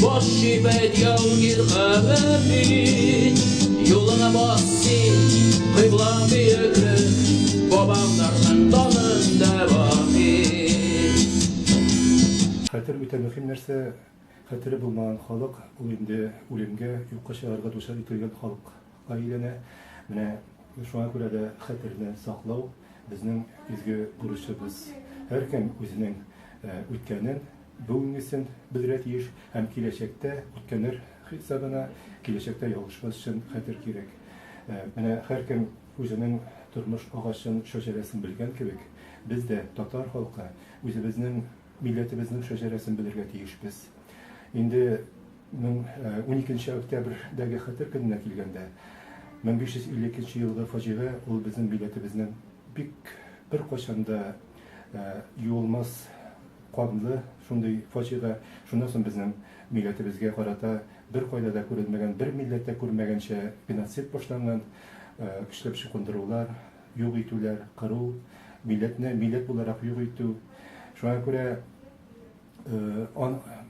Баш чибәт яугир хәбәбит, юлыңа бас син, кыйбла бөеге, бабамнарның данында баһи. Хәтер үтә мөһим нәрсә, хәтере булмаган халык, ул инде үлемгә, юкка чыгарга дучар ителгән халыкка әйләнә. Менә шуңа күрә дә хәтерне саклау безнең изге бурычыбыз. Һәркем үзенең үткәнен, бүгенгесен белергә тиеш һәм киләчәктә үткәннәр хисабына киләчәктә ялгышмас өчен хәтер кирәк. Менә һәркем үзенең тормыш агачын, шәҗәрәсен белгән кебек, без дә, татар халкы, үзебезнең милләтебезнең шәҗәрәсен белергә тиешбез. Инде мең уникенче октябрьдәге хәтер көненә килгәндә, 1552 елгы фаҗига ул безнең милләтебезнең бик беркайчан да Юылмас канлы шундый фаҗига, шуннан соң безнең милләтебезгә карата беркайда да күрелмәгән, бер милләт тә күрмәгәнчә геноцид башланган, көчләп чукындырулар, юк итүләр, кыру, милләтне милләт буларак юк итү. Шуңа күрә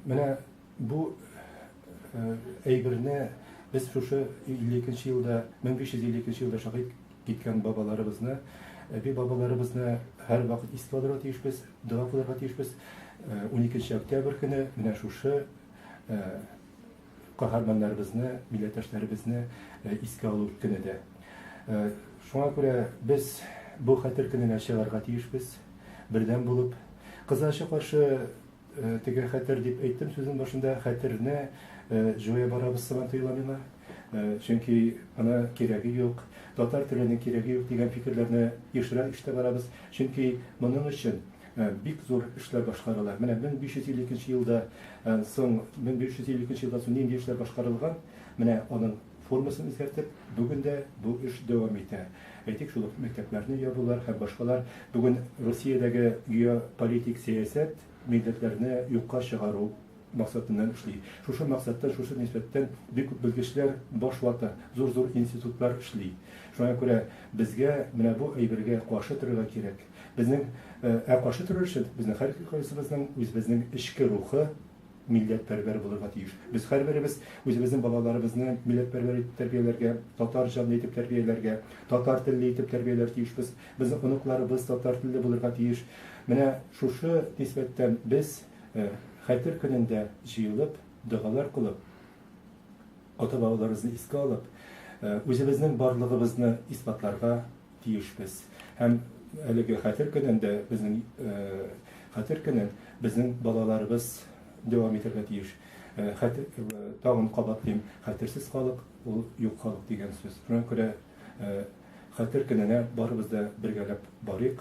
менә бу Әйберне без шушы 52 елда, 1552 елда шагыйк киткән бабаларыбызны, әби бабаларыбызны һәр вакыт истәләргә тиешбез, дога кылырга тиешбез. 12 октябрь көне менә шушы каһарманнарыбызны, милләттәшләребезне искә алу көне дә. Шуңа күрә без бу хәтер көненә чыгарга тиешбез, бердәм булып, кызачы каршы Теге хәтер дип әйттем сүзнең башында, хәтерне җуя барабыз сыман тоела миңа. Чөнки аны кирәге юк, татар теленең кирәге юк дигән фикерләрне ешрак ишетә барабыз. Чөнки моның өчен бик зур эшләр башкарыла. Менә 1552 елда соң, 1552 елдан соң нинди эшләр башкарылган, менә аның Формасын үзгәртеп, бүген дә бу эш дәвам итә. Әйтик, шул ук мәктәпләрне ябулар һәм башкалар. Бүген Русиядәге геополитик сәясәт милләтләрне юкка чыгару максатыннан эшли. Шушы максаттан, шушы нисбәттән бик күп белгечләр баш вата, зур-зур институтлар эшли. Шуңа күрә безгә менә бу әйбергә каршы торырга кирәк. Безнең, ә каршы торыр өчен безнең һәркайсыбызның үзебезнең эчке рухы, милләтпәрвәр булырга тиеш. Без һәрберебез үзебезнең балаларыбызны милләтпәрвәр итеп тәрбияләргә, татар җанлы итеп тәрбияләргә, татар телле итеп тәрбияләр тиешбез. Безнең оныкларыбыз татар телле булырга тиеш. Менә шушы нисбәттән без Хәтер көнендә җыелып, догалар кылып, ата-бабаларыбызны искә алып, үзебезнең барлыгыбызны исбатларга, тиешбез. Һәм әлеге Хәтер көнен дә безнең Хәтер көнен безнең балаларыбыз дәвам итәргә тиеш. Хәтер, тагын кабатлыйм, хәтерсез халык, ул юк халык дигән сүз. Шуңа күрә Хәтер көненә барыбыз да бергәләп барыйк,